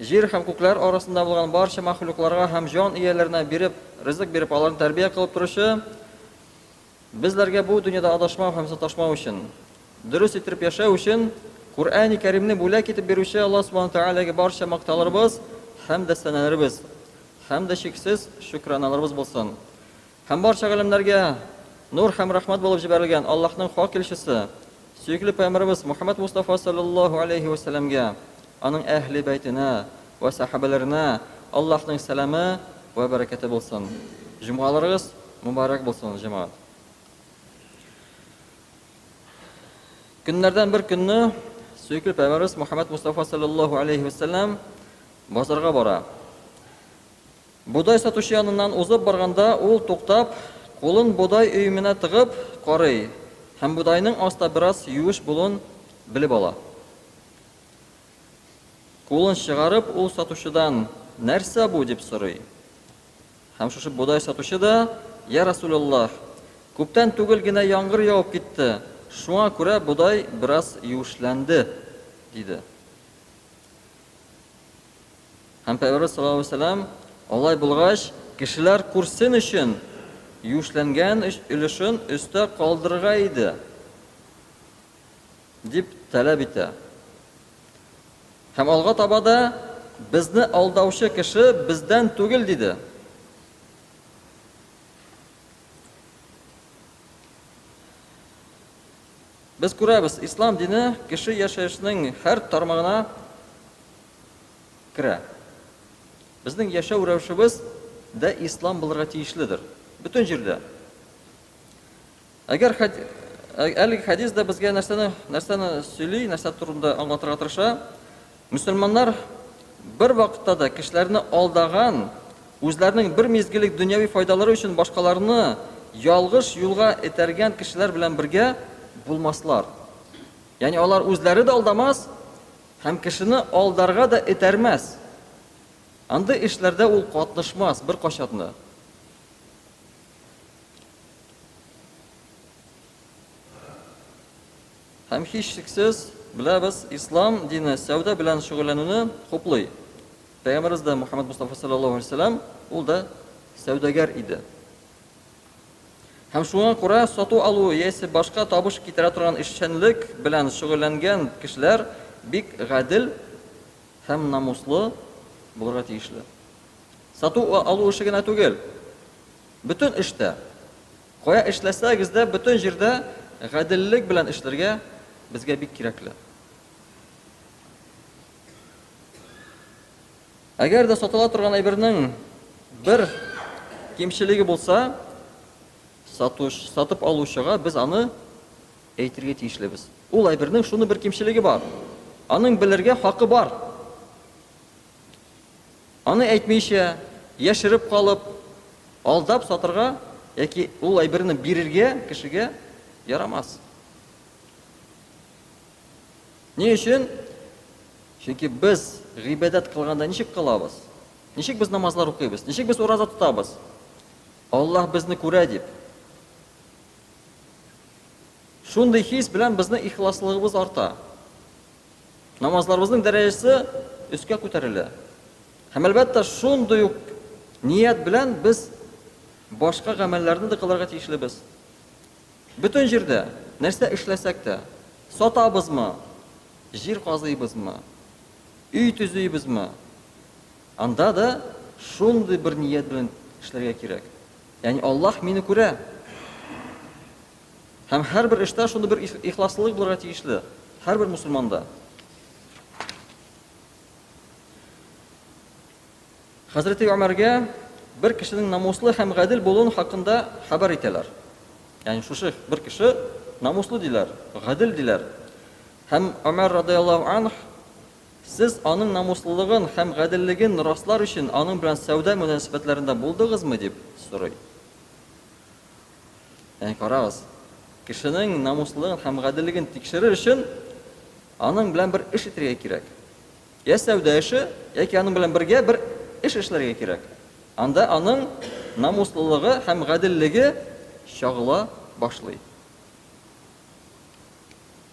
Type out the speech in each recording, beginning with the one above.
Җир һәм күкләр арасында булган барча мәхлукларга һәм җан ияләренә биреп, ризык биреп, аларны тәрбия кылып торучы, безләргә бу дөньяда адашмау һәм саташмау өчен, дөрес иттереп яшәү өчен Куръәни Кәримне бүләк итеп бирүче Аллаһ Субхана Тәгаләгә барча мактауларыбыз һәм дәстанәләребез һәм дә чиксез шөкраналарыбыз булсын. Һәм барча галәмнәргә нур һәм рәхмәт булып җибәрелгән Аллаһның хак илчесе, сөекле пәйгамбәребез Мухаммәд Мустафа салләллаһу алейһи вә сәлләмгә, аның әһле бәйтенә вә сәхабәләренә Аллаһның сәламе вә бәрәкәте булсын. Җомгаларыгыз мөбарәк булсын, җәмәгать! Көннәрдән бер көнне сөекле пәйгамбәребез Мухаммәд Мустафа салләллаһу алейһи вә сәлләм базарга бара. Бодай сатучы яныннан узып барганда, ул туктап, кулын бодай өеменә тыгып, карый һәм бодайның аста бераз юеш булуын белеп ала. Кулын чыгарып, ул сатучыдан, Нәрсә бу? дип сорый. Һәм шушы бодай сатучы да, Йә Расуләллаһ! Күптән түгел генә яңгыр явып китте, шуңа күрә бодай бераз юешләнде, диде. Һәм Пәйгамбәрбез саллаллаһу алейһи ва сәлләм, алай булгач, кешеләр күрсен өчен, юешләнгән өлешен өстә калдырырга иде, дип таләп итә. Һәм алга таба да безне алдаучы кеше бездән түгел, диде. Без күрәбез, ислам дине кеше яшәешнең һәр тармагына керә. Безнең яшәү рәвешебез дә ислам булырга тиешледер. Бөтен җирдә. Әгәр әлеге хәдис дә безгә нәрсәне, нәрсәне сөйли, нәрсә турында аңлатырга тырыша? Мөселманнар бер вакытта да кешеләрне алдаган, үзләренең бер мизгеллек дөньяви файдалары өчен башкаларны ялгыш юлга этәргән кешеләр белән бергә булмаслар. Ягъни алар үзләре дә алдамас һәм кешене алдарга да этәрмәс. Андый эшләрдә ул катнышмас беркайчан да. Һәм һичшиксез, беләбез, ислам дине сәүдә белән шөгыльләнүне хуплый. Пәйгамбәребез дә, Мөхәммәд Мостафа салләллаһу алейһи ва сәлләм, ул да сәүдәгәр иде. Һәм шуңа күрә сату-алу яисә башка табыш китерә торган эшчәнлек белән шөгыльләнгән кешеләр бик гадел һәм намуслы булырга тиешле. Сату-алу эше генә түгел, бөтен эштә, Кая эшләсәгез дә, бөтен җирдә гаделлек белән эшләргә безгә бик кирәкле. Әгәр дә сатыла торган әйбернең бер кимчелеге булса, сатуш, сатып алучыга без аны әйтергә тиешлебез. Ул әйбернең шуны бер кимчелеге бар. Аның белергә хакы бар. Аны әйтмичә, яшереп калып, алдап сатырга яки ул әйберне бирергә кешегә ярамас. Ни өчен? Чөнки без гыйбадәт кылганда ничек кылабыз? Ничек без намазлар укыйбыз? Ничек без ураза тотабыз? Аллаһ безне күрә дип. Шундый хис белән безнең ихласлыгыбыз арта. Намазларыбызның дәрәҗәсе өскә күтәрелә. Һәм әлбәттә, шундый ук ният белән без башка гамәлләрне дә кылырга тиешлебез. Бөтен җирдә нәрсә эшләсәк тә, сатабызмы, җир казыйбызмы, өй төзибезме, анда да шундый бер ният белән эшләргә кирәк. Ягъни Аллаһ мине күрә. Һәм һәрбер эштә шундый бер ихласлылык булырга тиешле, һәрбер мусульманда. Хәзрәти Омәргә бер кешенең намуслы һәм гадел булуын хакында хәбәр итәләр. Ягъни шушы бер кеше намуслы диләр, гадел диләр. Һәм Омәр радиаллаһу анх сез аның намуслылыгын һәм гаделлеген раслар өчен аның белән сәүдә мөнәсәбәтләрендә булдыгызмы дип сорый. Әнә карагыз, кешенең намуслылыгын һәм гаделлеген тикшерер өчен аның белән бер эш итәргә кирәк. Йә сәүдә эше, яки аның белән бергә бер эш эшләргә кирәк. Анда аның намуслылыгы һәм гаделлеге чагыла башлый.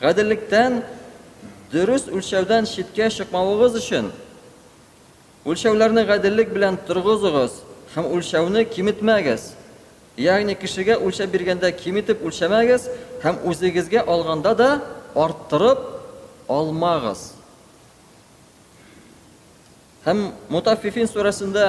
Гаделлектән, дөрес үлчәүдән читкә чыкмавыгыз өчен, үлчәүләрне гаделлек белән торгызыгыз һәм үлчәүне киметмәгез. Ягъни кешегә үлчәп биргәндә киметеп үлчәмәгез һәм үзегезгә алганда да арттырып алмагыз. Һәм Мутаффифин сүрәсендә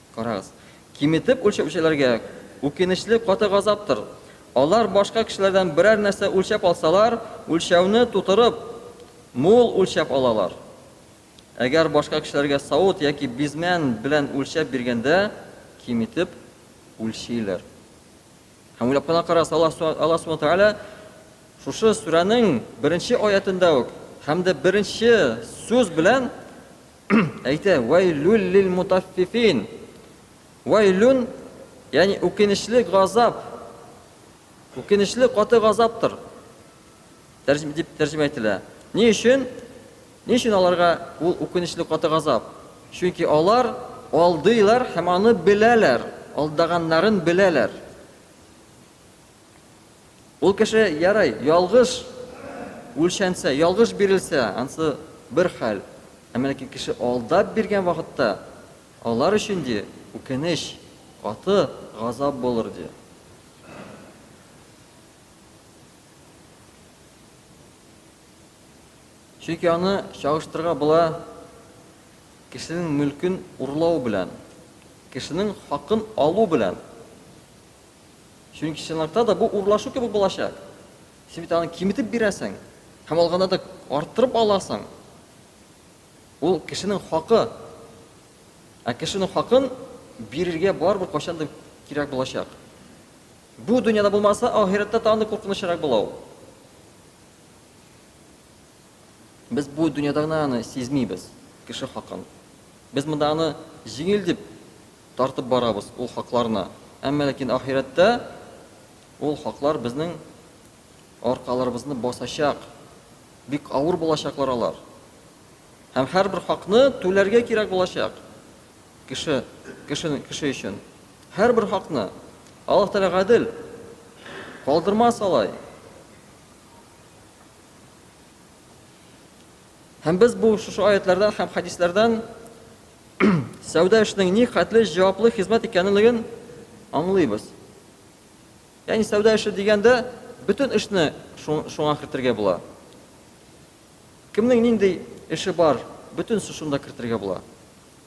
Карагыз, киметеп үлчәүчеләргә үкенечле каты газаптыр. Алар башка кешеләрдән берәр нәрсә үлчәп алсалар, үлчәүне тутырып, мул үлчәп алалар. Әгәр башка кешеләргә савыт яки бизмән белән үлчәп биргәндә, киметеп үлчиләр. Һәм уйлап кына карагыз, Аллаһ Субханаһу ва Тәгалә шушы сүрәнең беренче аятендә үк һәм дә беренче сүз белән әйтә, Вәйлүл лилмутаффифин! Вәйлүн, ягъни үкенечле газап, үкенечле каты газаптыр, дип тәрҗемә ителә. Ни өчен? Ни өчен аларга ул үкенечле каты газап? Чөнки алар алдыйлар һәм аны беләләр, алдаганнарын беләләр. Ул кеше, ярый, ялгыш үлчәнсә, ялгыш бирелсә, ансы бер хәл, әмма ләкин кеше алдап биргән вакытта, алар өчен, ди, үкенеч, каты газап булыр, ди. Чөнки аны чагыштырырга була кешенең мөлкен урлау белән, кешенең хакын алу белән. Чөнки чынлыкта да бу урлашу кебек булачак. Син бит аны киметеп бирәсең һәм алганда да арттырып аласың. Ул кешенең хакы. Ә кешенең хакын бирергә барыбер кайчан да кирәк булачак. Бу дөньяда булмаса, ахирәттә тагын да куркынычрак була ул. Без бу дөньяда гына аны сизмибез, кеше хакын. Без монда аны җиңел дип Тартып барабыз ул хакларны. Әмма ләкин ахирәттә ул хаклар безнең аркаларыбызны басачак. Бик авыр булачаклар алар. Һәм һәрбер хакны түләргә кирәк булачак. Кеше, кеше, кеше өчен. Һәрбер хакны. Аллаһ Тәгалә гадел. Калдырмас алай. Һәм без бу шушы аятләрдән һәм хәдисләрдән сәүдә эшенең ни хәтле җаваплы хезмәт икәнлеген аңлыйбыз. Ягъни сәүдә эше дигәндә бөтен эшне шуңа кертергә була. Кемнең нинди эше бар, бөтен шунда кертергә була.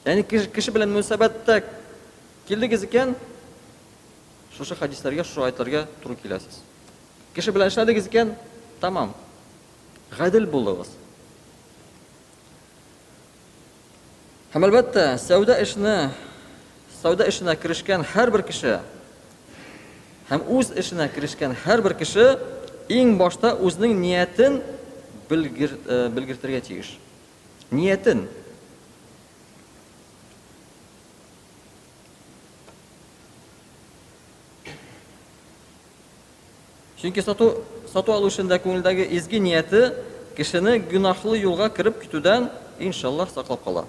Ягъни кеше белән мөнәсәбәттә килдегез икән, шушы хәдисләргә, шушы аятларга туры киләсез. Кеше белән эшләдегез икән, тамам. Гадел булыгыз. Һәм, әлбәттә, сәүдә эшенә сәүдә эшенә керешкән һәрбер кеше һәм үз эшенә керешкән һәрбер кеше иң башта үзенең ниятен белгер, э, белгертергә тиеш. Ниятен. Чөнки сату, сату алучының да күңелдәге изге нияте кешене гөнаһлы юлга кереп китүдән, иншаллаһ, саклап кала.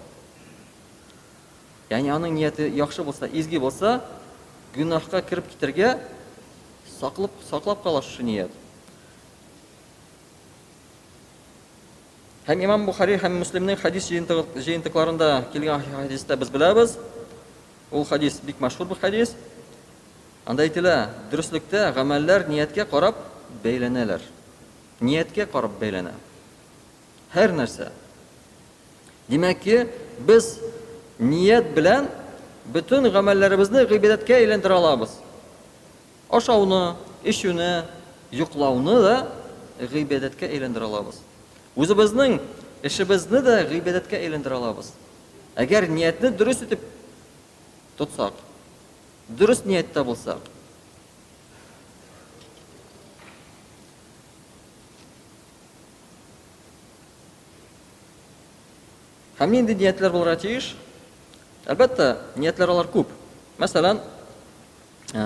Ягъни аның нияте яхшы булса, изге булса, гөнаһка кереп китергә саклап, саклап кала шушы ният. Һәм имам Бухари һәм Муслимның хадис җыентыкларында килгән хадисте без беләбез. Ул хадис бик мәшһүр бу хадис. Анда әйтелә, Дөреслектә гамәлләр нияткә карап бәйләнәләр. Нияткә карап бәйләнә. Һәр нәрсә. Димәк ки, без ният белән бөтен гамәлләребезне гыйбадәткә әйләндерә алабыз. Ашауны, эчүне, йоклауны да гыйбадәткә әйләндерә алабыз. Үзебезнең эшебезне дә гыйбадәткә әйләндерә алабыз. Әгәр ниятне дөрес итеп тотсак. Дөрес нияттә булса. Һәм нинди ниятләр булырга тиеш? Әлбәттә, ниятләр алар күп. Мәсәлән, ә,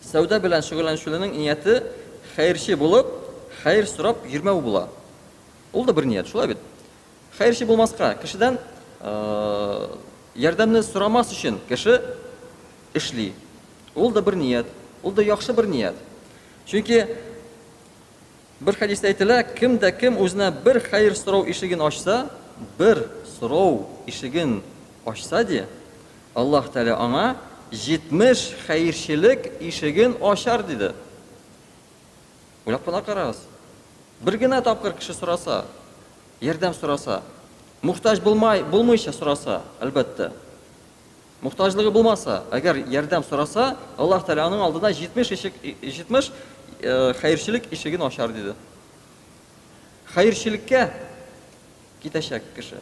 сәүдә белән шөгыльләнүчеләрнең нияте хәерче булып, хәер сорап йөрмәү була. Ул да бер ният, шулай бит? Хәерче булмаска, кешедән ярдәмне сорамас өчен кеше эшли. Ул да бер ният, ул да яхшы бер ният. Чөнки бер хәдистә әйтелә, кем дә кем үзенә бер хәер сорау ишеген ачса, бер сорау ишеген ачса ди, Аллаһ Тәгалә аңа 70 хәерчелек ишеген ачар, диде. Уйлап кына карагыз. Бер генә тапкыр кеше сораса, ярдәм сораса, мохтаҗ булмай, булмыйча сораса, әлбәттә. Мохтаҗлыгы булмаса, әгәр ярдәм сораса, Аллаһ Тәгалә аның алдына 70 ишек, 70 хәерчелек ишеген ачар диде. Хәерчелеккә китәчәк кеше.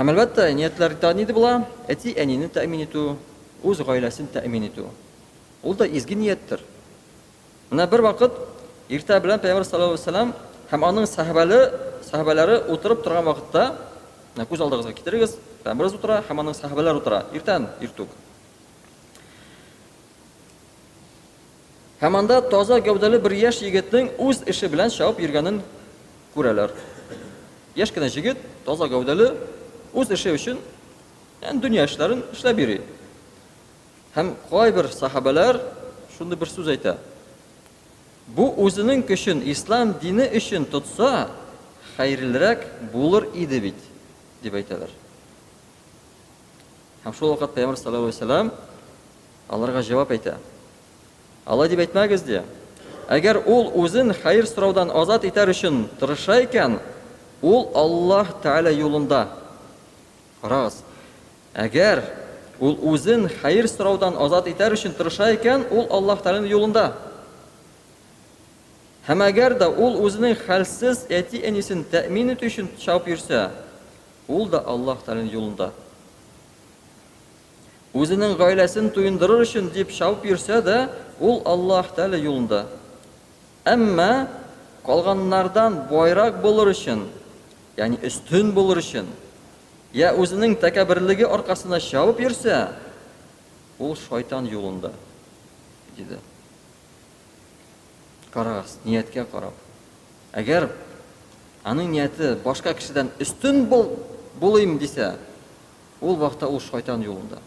Һәм әлбәттә, ниятләр тә нидә була? Әти әнине тәэмин итү, үз гаиләсен тәэмин итү. Ул да изге нияттер. Менә бер вакыт иртә белән Пәйгамбер саллаллаху алейһи вәсәлләм һәм аның сәхәбәле, сәхәбәләре утырып торган вакытта, менә күз алдыгызга китерегез, Пәйгамберыбыз утыра һәм аның сәхәбәләре утыра. Иртән, иртүк. Һәм анда таза гәүдәле бер яшь егетнең үз эше белән чабып йөргәнен күрәләр. Яшь кенә җегет, таза гәүдәле, үз эше өчен, янь дөнья эшләрен эшләп йөри. Һәм кайбер сахабәләр шундый бер сүз әйтә, Бу үзенең көчен ислам дине өчен тотса, хәерлерәк булыр иде бит, дип әйтәләр. Һәм шул вакыт Пәйгамбәр саллаллаһу алейһи ва сәлләм Аларга җавап әйтә. Алай дип әйтмәгез, ди. Әгәр ул үзен хәер сораудан азат итәр өчен тырыша икән, ул Аллаһ Тәгалә юлында. Карагыз. Әгәр ул үзен хәер сораудан азат итәр өчен тырыша икән, ул Аллаһ Тәгаләнең юлында. Һәм әгәр дә ул үзенең хәлсез әти-әнисен тәэмин итү өчен чабып йөрсә, ул да Аллаһ Тәгаләнең юлында. Үзенең гаиләсен туендырыр өчен дип чабып йөрсә дә, ул Аллаһ Тәгалә юлында. Әмма калганнардан байрак булыр өчен, ягъни өстен булыр өчен, йә үзенең тәкәбберлеге аркасында чабып йөрсә, ул шайтан юлында, диде. Карагыз, нияткә карап. Әгәр аның нияте башка кешедән өстен булыйм дисә, Ул вакытта ул шайтан юлында.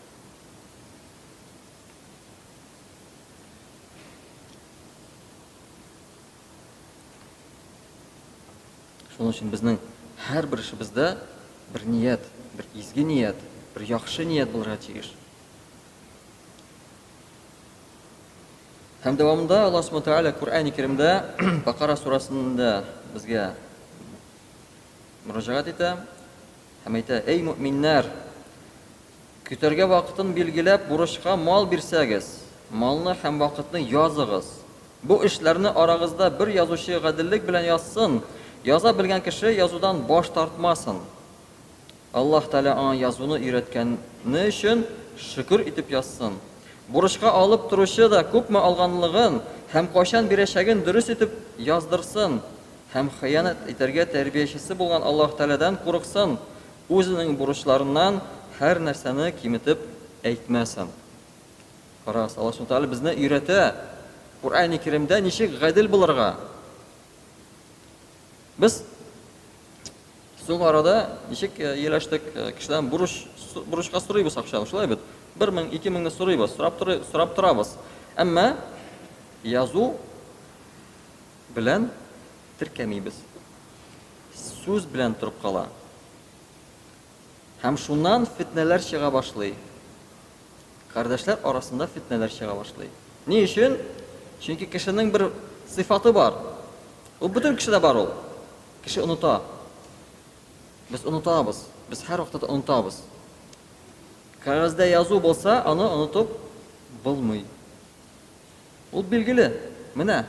Шуның өчен безнең һәрбер эшебездә бер ният, бер изге ният, бер яхшы ният булырга тиеш. Һәм дәвамында Аллаһ Субтитры Тәгалә Коръәни Кәримдә Бакара сурасында безгә Мөрәҗәгать итә һәм әйтә, Әй, мөэминнәр! Көтәргә вакытын билгеләп, бурычка мал бирсәгез, малны һәм вакытны языгыз. Бу эшләрне арагызда бер язучы гаделлек белән язсын, яза белгән кеше язудан баш тартмасын. Аллаһ Тәгалә аңа язуны өйрәткәне өчен шөкер итеп язсын. Бурычка алып торучы да күпме алганлыгын һәм кайчан бирәчәген дөрес итеп яздырсын һәм хыянәт итәргә тәрбиячесе булган Аллаһ Тәгаләдән курыксын, үзенең бурычларыннан һәр нәрсәне киметеп әйтмәсен. Карагыз, Аллаһ Субхана Тәгалә безне өйрәтә, Куръәни Киремдә ничек гадел булырга. Без соң арада ничек ияләштек, кешедән бурыч, бурычка сорыйбыз акчаны, шулай бит. Бер мең, ике меңне сорыйбыз, сорап, торы, сорап торабыз. Әмма язу белән теркәмибез. Сүз белән торып кала. Һәм шуннан фетнәләр чыга башлый. Кардәшләр арасында фетнәләр чыга башлый. Ни өчен? Чөнки кешенең бер сыйфаты бар. Ул бөтен кешедә бар ул. Кеше оныта. Без онытабыз. Без һәр вакытта онытабыз. Кәгазьдә язу булса, аны онытып булмый. Ул билгеле. Менә.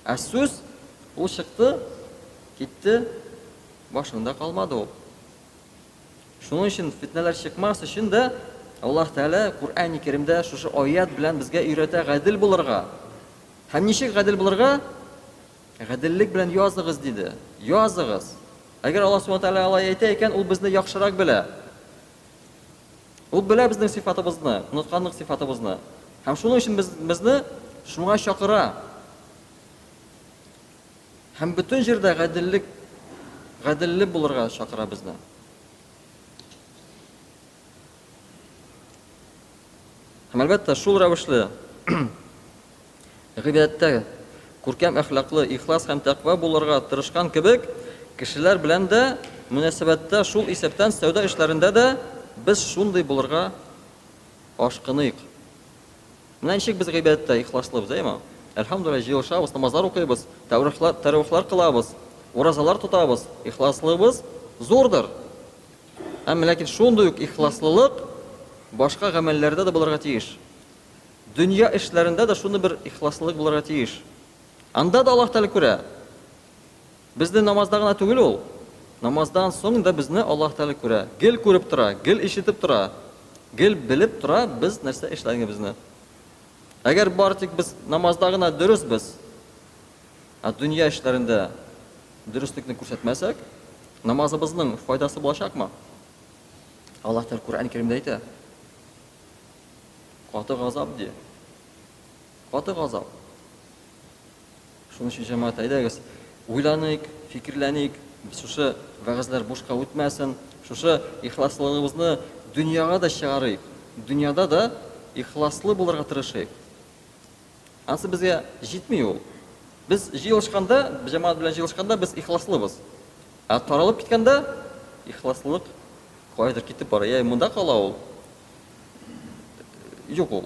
Ә сүз ул чыкты, китте, башыңда калмады ул. Шуның өчен фетнәләр чыкмас өчен дә Аллаһ Тәгалә Куръәни Кәримдә шушы аят белән безгә өйрәтә гадел булырга. Һәм ничек гадел булырга? Гаделлек белән языгыз диде. Языгыз. Әгәр Аллаһ Субхану Тәгалә алай әйтә икән, ул безне яхшырак белә. Ул белә безнең сыйфатыбызны, онытканлык сыйфатыбызны. Һәм шуның өчен без безне шуңа чакыра. Һәм бөтен җирдә гаделлек, гаделле булырга чакыра безне. Һәм әлбәттә, шул рәвешле гыйбадәттә күркәм әхлаклы, ихлас һәм тәкъва булырга тырышкан кебек, кешеләр белән дә мөнәсәбәттә шул исәптән сәүдә эшләрендә дә без шундый булырга ашкыныйк. Менә ничек без гыйбадәттә ихласлыбыз, әйеме? Әлхәмдүлиллаһ, җыелышабыз, намазлар укыйбыз, тәврихлар, тәрәвихлар кылабыз, уразалар тотабыз, ихласлыбыз зурдыр. Әмма ләкин шундый ук ихласлылык башка гамәлләрдә дә булырга тиеш. Дөнья эшләрендә дә шундый бер ихласлылык булырга тиеш. Анда да Аллаһ Тәгалә күрә. Безне намазда гына түгел Ул, намаздан соң да безне Аллаһ Тәгалә күрә, гел күреп тора, гел ишетеп тора, гел белеп тора без нәрсә эшләгәнебезне. Әгәр бары тик без намазда гына дөресбез, ә дөнья эшләрендә дөреслекне күрсәтмәсәк, намазыбызның файдасы булачакмы? Аллаһ Тәгалә Коръән Кәримдә әйтә. Каты газап ди. Каты газап. Шуның өчен, җәмәгать, әйдәгез, уйланыйк, фикерләник, шушы вәгазьләр бушка үтмәсен, шушы ихласлыгыбызны дөньяга да чыгарыйк, дөньяда да ихласлы булырга тырышыйк. Ансы безгә җитми ул. Без җыелышканда, җәмәгать белән җыелышканда без ихласлыбыз. Ә таралып киткәндә ихласлылык кайдыр китеп бара. Я монда кала ул. Юк ул.